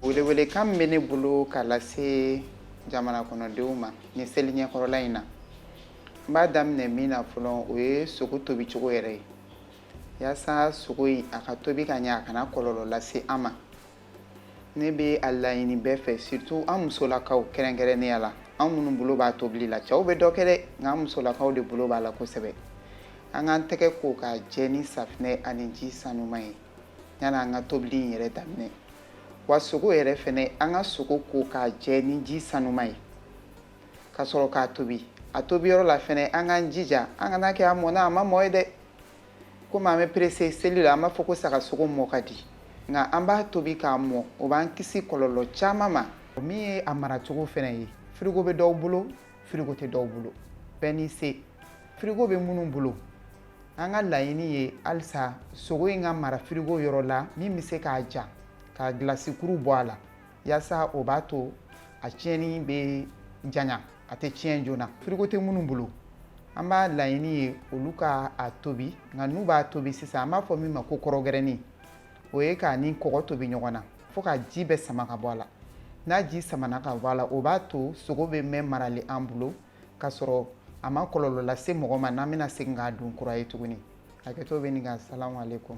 welewelekan bɛ ne bolo k'a lase jamana kɔnɔdenw ma ni seli ɲɛkɔrɔla in na n b'a daminɛ min na fɔlɔ o ye sogo tobicogo yɛrɛ ye yasa sogo in a ka tobi ka ɲɛ a kana kɔlɔlɔ lase an ma ne bɛ a laɲini bɛɛ fɛ surtout an musolakaw kɛrɛnkɛrɛnnenya la an minnu bolo b'a tobili la cɛw bɛ dɔ kɛ dɛ nka an musolakaw de bolo b'a la kosɛbɛ an k'an tɛgɛ ko k'a jɛ ni safinɛ ani ji sanuman ye yanni an ka tobili in yɛrɛ daminɛ wa sogo yɛrɛ fɛnɛ an ka sogo ko k'a jɛ ni ji sanuman ye ka sɔrɔ k'a tobi a tobiyɔrɔ la fɛnɛ an k'an jija an kan'a kɛ a mɔna a ma mɔ ye dɛ komi an bɛ perese seli la an b'a fɔ ko saga sogo mɔ ka di nka an b'a tobi k'a mɔ o b'an kisi kɔlɔlɔ caman ma min ye a maracogo fɛnɛ ye firigo bɛ dɔw bolo firigo tɛ dɔw bolo bɛɛ n'i se firigo bɛ minnu bolo an ka laɲini ye halisa sogo in ka mara firigo yɔrɔ la min bɛ se k'a ja ka gilasikuru bɔ a la yasa o b'a to a tiɲɛni bɛ janya a tɛ tiɲɛ joona firigo tɛ minnu bolo an b'a laɲini ye olu ka a tobi nka n'u b'a tobi sisan an b'a fɔ min ma ko kɔrɔgɛrɛni o ye k'a ni kɔgɔ tobi ɲɔgɔn na fo k'a ji bɛɛ sama ka bɔ a la n'a ji samana ka bɔ a la o b'a to sogo bɛ mɛɛn maralen an bolo k'a sɔrɔ a ma kɔlɔlɔ lase mɔgɔ ma n'an bɛna segin k'a dun kura ye tuguni hakɛto bɛ nin kan salamu aleykum